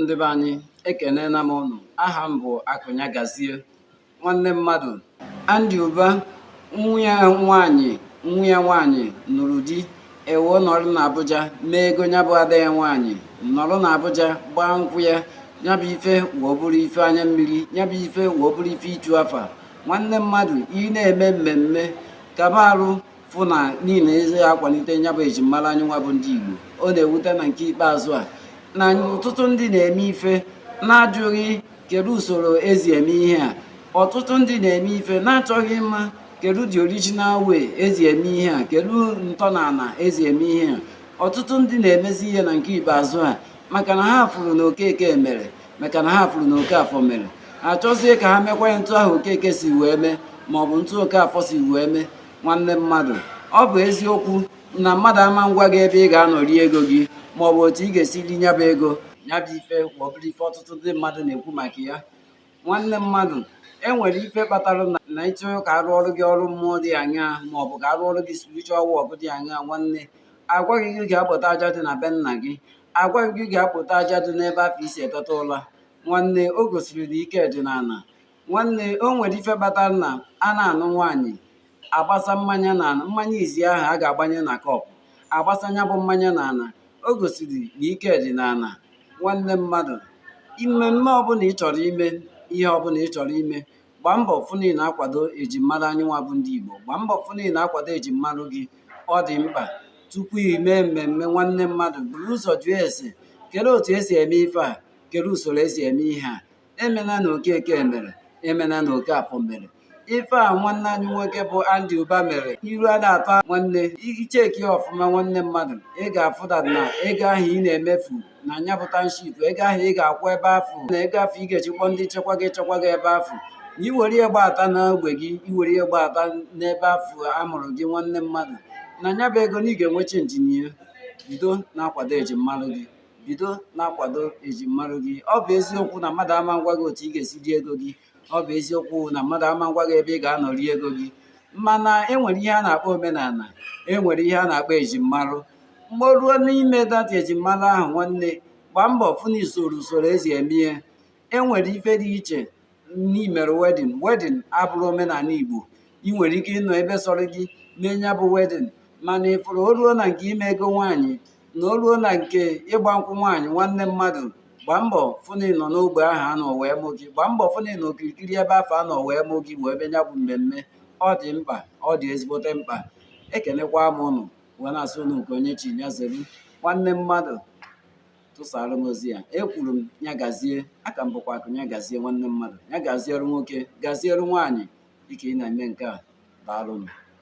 ndị be anyị ekenena m ụnụ aha m bụ akụnya gazie nwanne mmadụ Andy Uba nwa ya nwaanyị nwa ya nwaanyị nụrụ di e wee nọrọ na abuja mee ego nya bụ ada ya nwaanyị nọrọ na abuja gbaa nkwụ ya nya bụ ife wee bụrụ ife anya mmiri nya bụ ife wee bụrụ ife ịchụ afa nwanne mmadụ ị na-eme mmemme kaba arụ fụ na niile eze akwalite nya bụ ejimmara anyị nwa bụ ndị Igbo ọ na-ewute na nke ikpeazụ a na ọtụtụ ndị na-eme ife na-ajụghị kedu usoro esi eme ihe a ọtụtụ ndị na-eme ife na-achọghị ịma kedu the original way esi eme ihe a kedu ntọala esi eme ihe a ọtụtụ ndị na-emezi ihe na nke ikpeazụ a maka na ha fụrụ na okeke mere maka na ha fụrụ na okafọ mere achọzie ka ha mekwa ya otu ahụ okeke si wee mee maọbụ otu okafọ si wee mee nwanne mmadụ ọ bụ eziokwu na mmadụ ama agwa gị ebe ị ga-anọ ri ego gị ma ọ bụ otu ị ga-esi ri nya bụ ego nya bụ ife wee bụrụ ife ọtụtụ ndị mmadụ na-ekwu maka ya nwanne mmadụ e nwere ife kpatara na ị chọọ ka a rụọrọ gị ọrụ mmụọ dị anya ma ọ bụ ka a rụọrọ gị spiritual work dị anya nwanne a gwa gị gị gaa kpota aja dị na be nna gị a gwa gị gị gaa kpota aja dị n'ebe afụ i si eteta ụla nwanne o gosiri na ike dị n'ala nwanne o nwere ife kpatara na a na-anụ nwaanyị agbasa mmanya na ana mmanya izizi ahụ a ga-agbanye na kọpụ agbasa nya bụ mmanya na ana o gosiri na ike dị na ana nwanne mmadụ mmemme ọbụla ị chọrọ ime ihe ọbụla ị chọrọ ime gbaa mbọ fụ na ị na-akwado ejimmara anyị nwa bụ ndị Igbo gbaa mbọ fụ na ị na-akwado ejimmara gị ọ dị mkpa tupu ị mee mmemme nwanne mmadụ buru ụzọ jụọ ese kere otu esi eme ife a kere usoro esi eme ihe a emena na okeke mere emena na okafọ mere ife a nwanne anyị nwoke bụ Andy Uba mere iru a na-atọ nwanne i chekie ya ọfụma nwanne mmadụ ị ga-afụda na ego ahụ ị na-emefu na nya bụ township ego ahụ ị ga-akwụ ebe afụ na ego afụ ị ga-eji kwụọ ndị nchekwa ga-echekwa gị ebe afụ na iwere ihe gbata n'ogbe gị iwere ihe gbata n'ebe afụ a mụrụ gị nwanne mmadụ na nya bụ ego na ị ga-enwe chenji na ya bido na-akwado ejimmarụ gị bido na-akwado ejimmarụ gị ọ bụ eziokwu na mmadụ ama agwa gị otu ị ga-esi rie ego gị ọ bụ eziokwu na mmadụ ama agwa gị ebe ị ga-anọ rie ego gị mana enwere ihe a na-akpọ omenana enwere ihe a na-akpọ ejimmarụ mgbe o ruo n'ime that ejimmarụ ahụ nwanne gbaa mbọ fụ na i soro usoro esi eme ihe enwere ife dị iche n'imere wedding wedding abụrọ omenana igbo ị nwere ike ịnọ ebe sọrọ gị mee nya bụ wedding mana ị fụrụ o ruo na nke ime ego nwaanyị na o ruo na nke ịgba nkwụ nwaanyị nwanne mmadụ gbaa mbọ fụ na ị nọ n'ogbe ahụ a nọ wee mụ gị gbaa mbọ fụ na ị nọ okirikiri ebe afụ a nọ wee mụ gị wee mee nya bụ mmemme ọ dị mkpa ọ dị ezigbote mkpa ekenekwa m ụnụ wee na-asị ụnụ nke onye chi ya zelu nwanne mmadụ tụsara m ozi ya ekwuru m ya gazie aka m bụkwa akụ ya gazie nwanne mmadụ ya gaziere nwoke gaziere nwaanyị dịka ị na-eme nke a daalụ m